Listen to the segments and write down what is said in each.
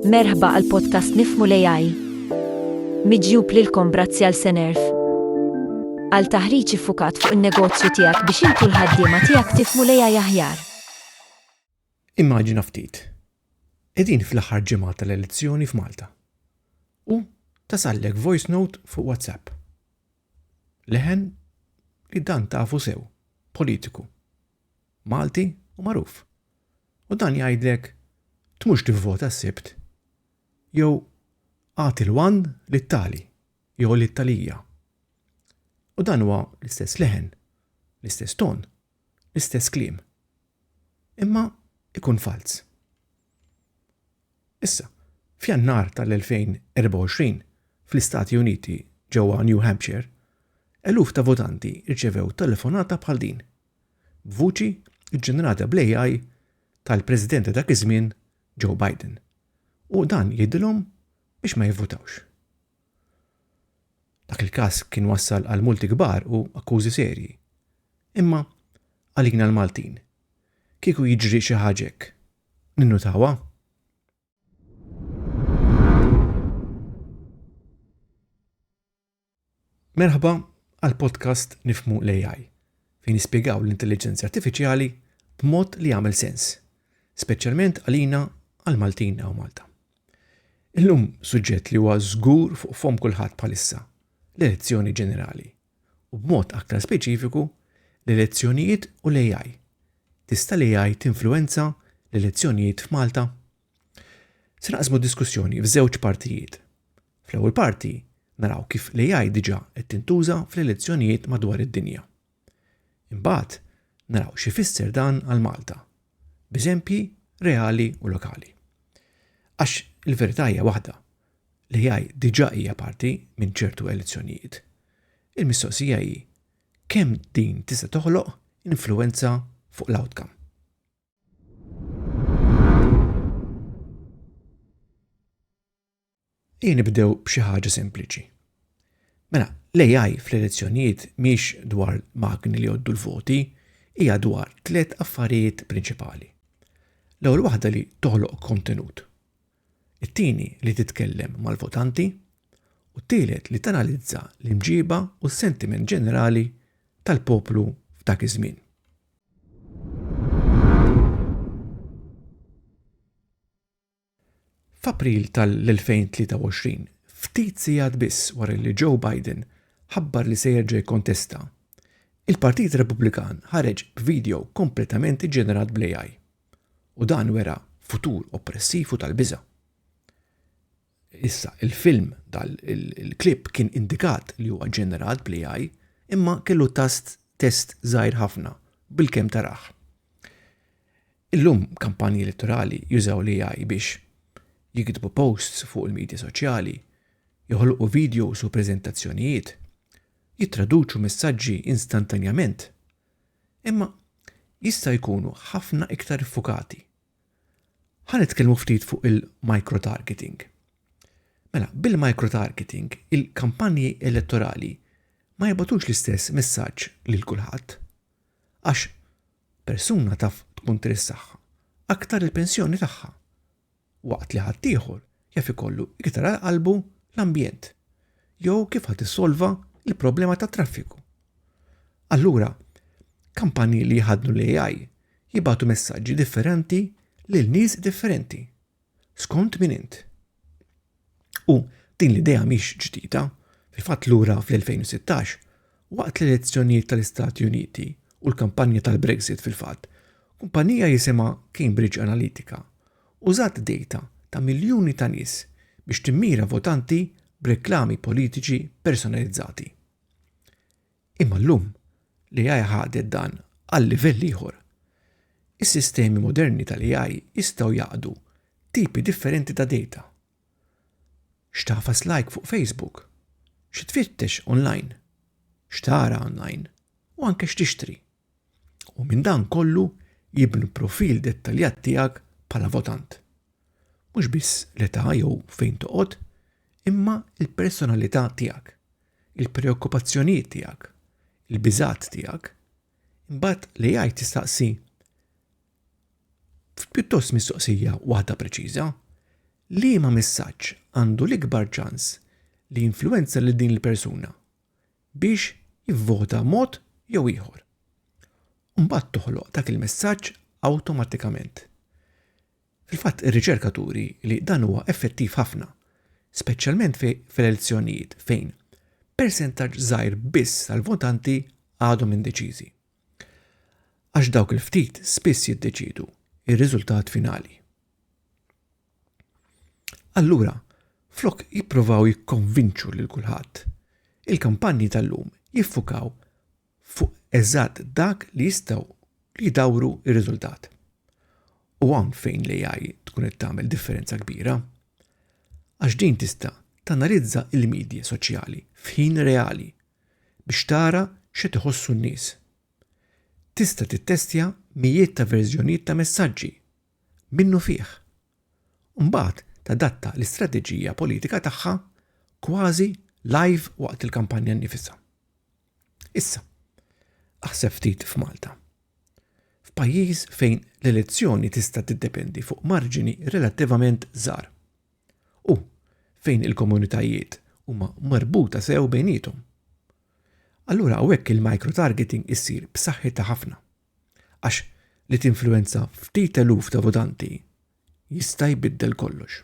Merħba għal podcast Nifmu l-AI. Miġjub lilkom brazzi għal Senerf. Għal taħriġ fukat fuq il-negozju tijak biex intu l-ħaddima tijak tifmu l-AI aħjar. Immaġina ftit. Edin fl-aħħar ġimgħa tal-elezzjoni f'Malta. U tasallek voice note fuq WhatsApp. Leħen li dan tafu sew, politiku, Malti u magħruf. U dan jgħidlek tmurx tivvota s-Sibt jew agħti l-one lit-tali jew lit-talija. U dan huwa l-istess leħen, l-istess ton, l-istess kliem, imma ikun falz. Issa, f'Jannar tal-2024, fl-Istati Uniti ġewwa New Hampshire, eluf ta' votanti rċevew telefonata bħal din, b'vuċi ġġenerata bl-AI tal-President ta' dak iż-żmien Joe Biden, u dan jgħidilhom biex ma jivvutawx. Dak il-każ kien wassal għal multi kbar u akkużi serji. Imma għalina l-Maltin, kieku jiġri xi ħaġa hekk, ninnutawha? Merħba għal podcast Nifmu l-AI, fejn nispjegaw l-intelligenza artifiċjali b'mod li jagħmel sens, speċjalment għalina għal Maltin u Malta. Illum suġġett li huwa żgur fuq fom kulħadd bħalissa, l-elezzjoni ġenerali, u b'mod aktar speċifiku l-elezzjonijiet u l-AI. Tista' l-AI tinfluwenza l-elezzjonijiet f'Malta? Se naqsmu diskussjoni f'żewġ partijiet. Fl-ewwel parti naraw kif l-AI diġà qed tintuża fl-elezzjonijiet madwar id-dinja. Imbagħad naraw xi fisser dan għal Malta, b'eżempji reali u lokali. Għax il-verità hija waħda, li jgħid diġà hija parti minn ċertu elezzjonijiet. Il-mistoqsija hi kemm din tista' toħloq influenza fuq l-outcome. Ejja nibdew b'xi ħaġa sempliċi. Mela, l-AI fl-elezzjonijiet miex dwar magni li joddu l-voti, hija dwar tliet affarijiet prinċipali. L-ewwel waħda li toħloq kontenut. It-tieni li titkellem mal-votanti u t-tielet li tanalizza l-imġiba u s-sentiment ġenerali tal-poplu f'dak iż-żmien. F'April tal-2023, ftit sigħat biss wara li Joe Biden ħabbar li se jerġa' jikkontesta, il-Partit Repubblikan ħareġ b'vidjow kompletament iġġenerat bl-AI, u dan wera futur oppressiv u tal-biża'. Issa, il-film, il-klipp kien indikat li huwa ġġenerat bl-AI, imma kellu tast test żgħir ħafna bil-kemm tarah. Illum kampanji elettorali jużaw l-AI biex jiktbu posts fuq il-midja soċjali, joħolqu videos u preżentazzjonijiet, jittraduċu messaġġi instantanjament. Imma jista' jkunu ħafna iktar iffukati. Ħa nitkellmu ftit fuq il-microtargeting. Mela, bil-microtargeting, il-kampanji elettorali ma jibgħatux l-istess messaġġ lil kulħadd. Għax Persuna taf tkun trid saħħa aktar il-pensjoni tagħha, waqt li ħaddieħor jaf ikollu iktar għal qalbu l-ambjent jew kif ħadd issolva l-problema tat-traffiku. Allura, kampanji li jħaddnu l-AI jibgħatu messaġġi differenti lil nies differenti. Skont min int? U din l-idea mhix ġdida, fil-fatt lura fl-2016, waqt l-elezzjonijiet tal-Istati Uniti u l-kampanja tal-Brexit fil-fatt, kumpanija jisimha Cambridge Analytica użat dejta ta' miljuni ta' nies biex timmira votanti b'reklami politiċi personalizzati. Imma llum, l-AI ħadet dan għal livell ieħor. Is-sistemi moderni tal-AI jistgħu jaqdu tipi differenti ta' data. X'tagħfas like fuq Facebook? Xi tfittex online? X'tara online? U anke x'tixtri? U minn dan kollu jibnu profil dettaljat tiegħek bħala votant. Mhux biss l-età jew fejn toqgħod, imma l-personalità tiegħek, il-preokkupazzjonijiet tiegħek, il-biżgħat tiegħek. Imbagħad l-AI tistaqsi pjuttost mistoqsija waħda preċiża, liema messaġġ għandu l-ikbar ċans li jinfluwenza lil din il-persuna biex jivvota mod jew ieħor. Imbagħad toħloq dak il-messaġġ awtomatikament. Fil-fatt ir-riċerka turi li dan huwa effettiv ħafna, speċjalment fil-elezzjonijiet fejn persentaġġ żgħir biss tal-votanti għadhom indeċiżi. Għax dawk il-ftit spiss jiddeċiedu r-riżultat finali. Allura, flok jippruvaw jikkonvinċu lil kulħadd, il-kampanji tal-lum jiffukaw fuq eżatt dak li jistgħu li jdawru r-riżultat. U hawn fejn l-AI tkun qed tagħmel differenza kbira. Għax din tista' tanalizza l-midja soċjali f'ħin reali biex tara x'qed iħossu n-nies. Tista' tittestja mijiet ta' verżjonijiet ta' messaġġi minnu fih u mbagħad tadatta l-istrateġija politika tagħha kważi live waqt il-kampanja nnifisha. Issa, aħseb ftit f'Malta. F'pajjiż fejn l-elezzjoni tista' tiddependi fuq marġini relattivament żgħar. U fejn il-komunitajiet huma marbuta sew bejnietom. Allura hawnhekk il-microtargeting issir b'saħħitha ħafna. Għax li tinfluwenza ftit eluf ta' votanti jista' jbiddel kollox.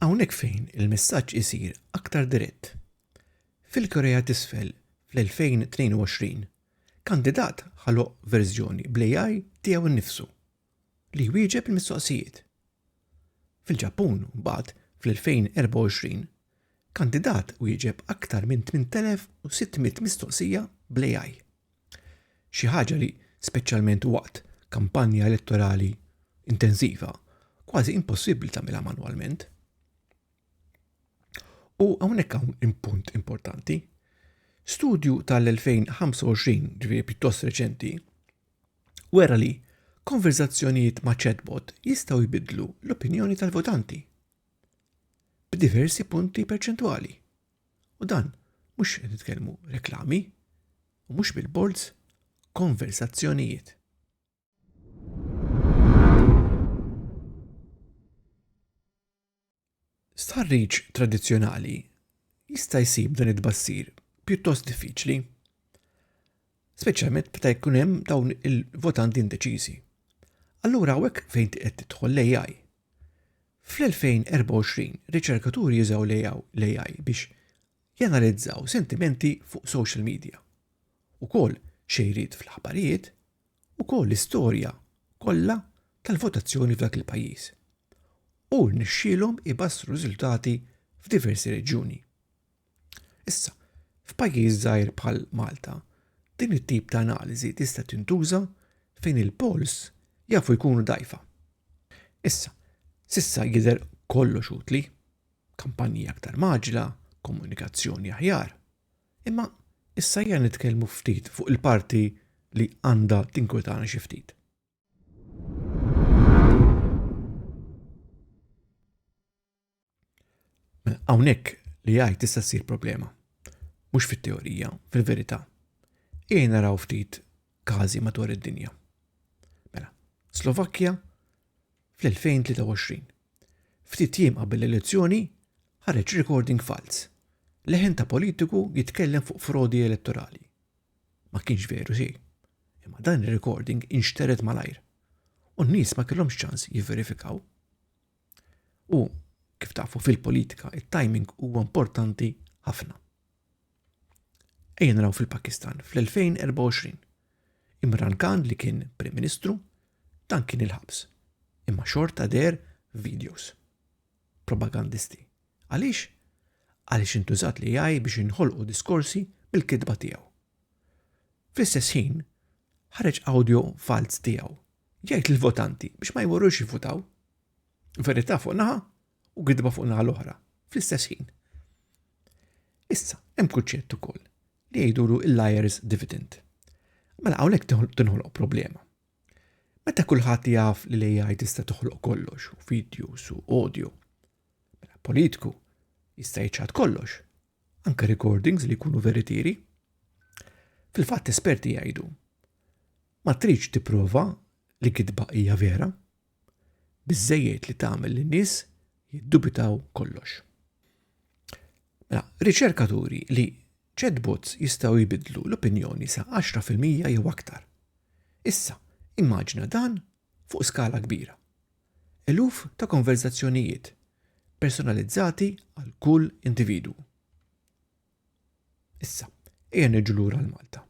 Hawnhekk fejn il-messaġġ isir aktar dirett. Fil-Korea t'Isfel fl-2022, kandidat ħaloq verżjoni bl-AI tiegħu nnifsu. li jwieġeb il-mistoqsijiet. Fil-Ġappun, mbagħad, fl-2024, kandidat wieġeb aktar minn 8,600 mistoqsija bl-AI. Xi ħaġa li, speċjalment waqt kampanja elettorali intensiva, kważi impossibbli tagħmilha manwalment. U hawnhekk hawn impunt importanti. Studju tal-2025, ġifieri pjuttost reċenti, wera li konverżazzjonijiet ma' chatbot jistgħu jbiddlu l-opinjoni tal-votanti b'diversi punti perċentwali. U dan mhux qed nitkellmu reklami u mhux billboards, konverżazzjonijiet. Stħarriġ tradizzjonali jista' jsib dan it-tbassir pjuttost diffiċli, speċjalment meta jkun hemm dawn il-votanti indeċiżi. Allura hawnhekk fejn qed tidħol l-AI. Fl-2024, riċerkaturi jużaw l-AI biex janalizzaw sentimenti fuq social media. Ukoll xejriet fl-aħbarijiet ukoll l-istorja kollha tal-votazzjoni f'dak il-pajjiż u rnexxielhom ibassru riżultati f'diversi reġjuni. Issa, f'pajjiż żgħir bħal Malta, din it-tip ta' analiżi tista' tintuża fejn il-polls jafu jkunu dgħajfa. Issa, s'issa jidher kollox utli, kampanji aktar mgħaġġla, komunikazzjoni aħjar, Imma issa ejja nitkellmu ftit fuq il-parti li għandha tinkwetana xi ftit. Hawnhekk li għaj tista' ssir problema. Mhux fit-teorija, fil-verità. Ejja naraw ftit każi madwar id-dinja. Mela, Slovakkja fl-2023. Ftit jiem qabel l-elezzjoni ħareġ recording falz. Leħen ta' politiku jitkellem fuq frodi elettorali. Ma kienx veru xejn. Imma dan ir-recording inxtered malajr u n-nies ma kellhomx ċans jivverifikaw. U kif tafu fil-politika, it-timing huwa importanti ħafna. Ejja naraw fil-Pakistan fl-2024. Imran Khan li kien Prim Ministru dan kien il-ħabs. Imma xorta deher videos. Propagandisti. Għaliex? Għaliex intużat li jgħaj biex inħolqu diskorsi bil-kitba tiegħu. Fl-istess ħin, ħareġ audio falz tiegħu jgħid lill-votanti biex ma jmorrux jivvutaw. Verità fuq naħa u gidba fuq naħa l-oħra, fl-istess ħin. Issa, hemm kunċett ukoll li jgħidulu il-liars dividend. Mela hawnhekk tinħoloq problema. Meta kulħadd jaf li l-AI tista' toħloq kollox, u videos u audio. Mela politku jista' jċad kollox, anke recordings li jkunu veritieri. Fil-fatt esperti jgħidu ma tridx tipprova li kitba hija vera, biżżejjed li tagħmel lin-nies jiddubitaw kollox. Mela, riċerka turi li chatbots jistgħu jbidlu l-opinjoni sa 10% jew aktar. Issa, immaġina dan fuq skala kbira. Eluf ta' konverzazzjonijiet personalizzati għal kull individwu. Issa, ejja niġu lura għal Malta.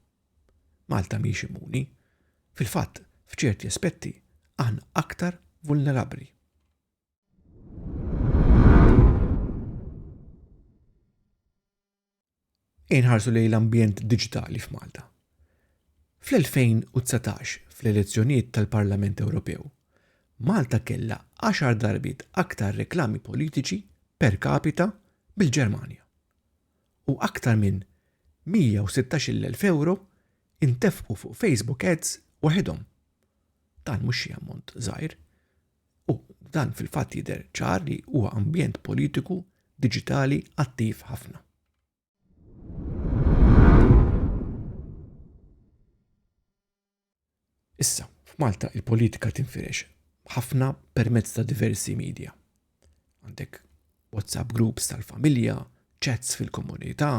Malta mhix immuni. Fil-fatt, f'ċerti aspetti, aħna aktar vulnerabbli. Inħarsu lejn l-ambjent diġitali f'Malta. Fl-2019, fl-elezzjonijiet tal-Parlament Ewropew, Malta kellha 10 darbiet aktar reklami politiċi per capita bil-Ġermanja. u aktar minn 116,000 ewro intefqu fuq Facebook Ads waħidhom. Dan mhux xi ammont żgħir. U dan fil-fatt jidher ċar li huwa ambjent politiku diġitali attiv ħafna. Issa, f'Malta il-politika tinfirex ħafna permezz ta' diversi media. Għandek WhatsApp groups tal-familja, chats fil-komunità,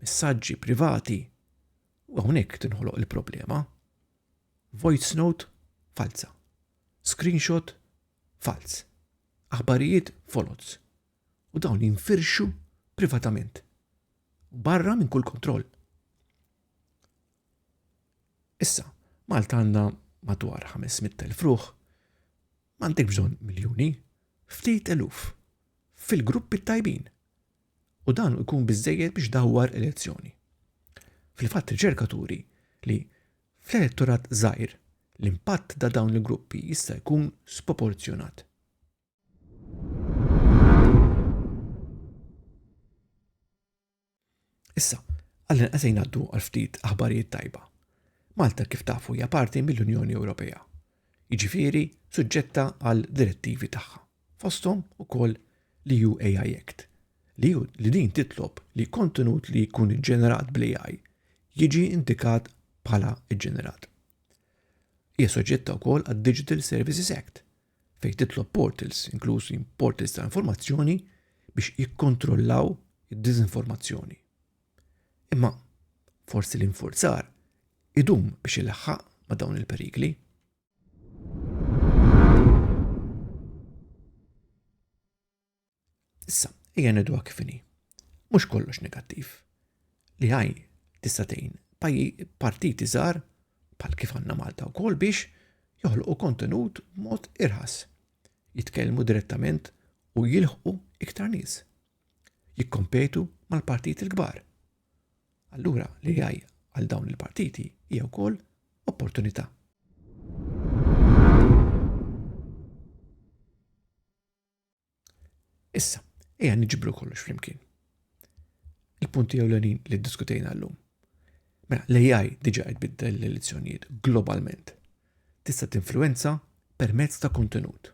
messaġġi privati. U hawnhekk tinħoloq il-problema. Voice note falza. Screenshot falz. Aħbarijiet foloz. U dawn jinfirxu privatament. Barra minn kull kontroll. Issa, Malta għandha madwar 500,000 ruħ, m'għandek bżonn miljuni, ftit eluf, fil-gruppi tajbin. U dan ikun biżejjed biex dawwar elezzjoni. Fil-fatt riċerka turi li fl-elettorat żgħir l-impatt ta' dawn il-gruppi jista' jkun sproporzjonat. Issa, għallin qasejn għaddu għal ftit aħbarijiet tajba. Malta kif tafu hija parti mill-Unjoni Ewropea, jiġifieri suġġetta għal direttivi tagħha, fosthom ukoll li ju AI Act, li ju li din titlob li kontenut li jkun ġenerat bl-AI jiġi indikat bħala ġenerat. Hija soġġetta wkoll għad-Digital Services Act, fejn titlob portals, inklużi portals ta' informazzjoni, biex jikkontrollaw id-diżinformazzjoni. Imma forsi l-infurzar idum biex ilaħħaq ma' dawn il-perikli. Issa, ejja ngħidu kif inhi. Mhux kollox negattiv. Li ħaj tista' tgħin partiti żgħar bħal kif għandna Malta wkoll biex joħloqu kontenut mod irħas, jitkellmu direttament u jilħqu iktar nies. Jikkompetu mal-partiti l-kbar. Allura li ħaj għal dawn il-partiti hija wkoll opportunità. Issa, ejja niġbru kollox flimkien. Il-punti ewlenin li ddiskutejna llum. Mela, l-AI diġa qed biddel l-elezzjonijiet globalment. Tista' tinfluenza permezz ta' kontenut,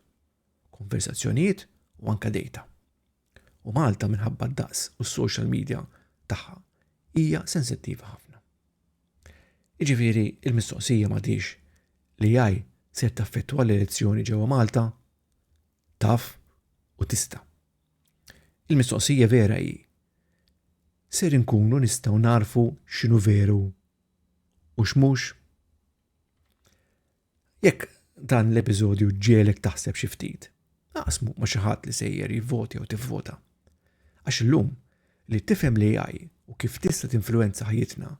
konversazzjonijiet u anka data. U Malta minħabba d-daqs u s-social media tagħha hija sensittiva ħafna. Iġifieri il-mistoqsija ma tix li jaj ser taffettwa l-elezzjoni ġewwa Malta? taf u tista'. Il-mistoqsija vera hi, ser inkunu nistgħu nagħrfu x'inhu veru u x'mhux? Jekk dan l-episodju ġielek taħseb xi ftit, aqsmu ma' xi ħadd li sejjer jivvoti jew tivvota. Għax illum li tifhem l-AI u kif tista' tinfluwenza ħajjitna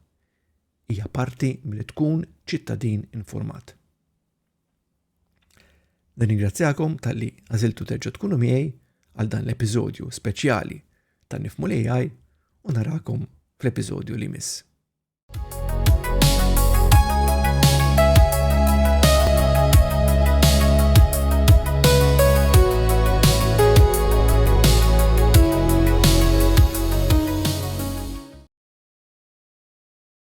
hija parti milli tkun ċittadin informat. Nirringrazzjakom tal-li għaziltu terġa tkunu miegħi għal dan l-episodju speċjali ta' nifmu li għaj u narakom fl-episodju li miss.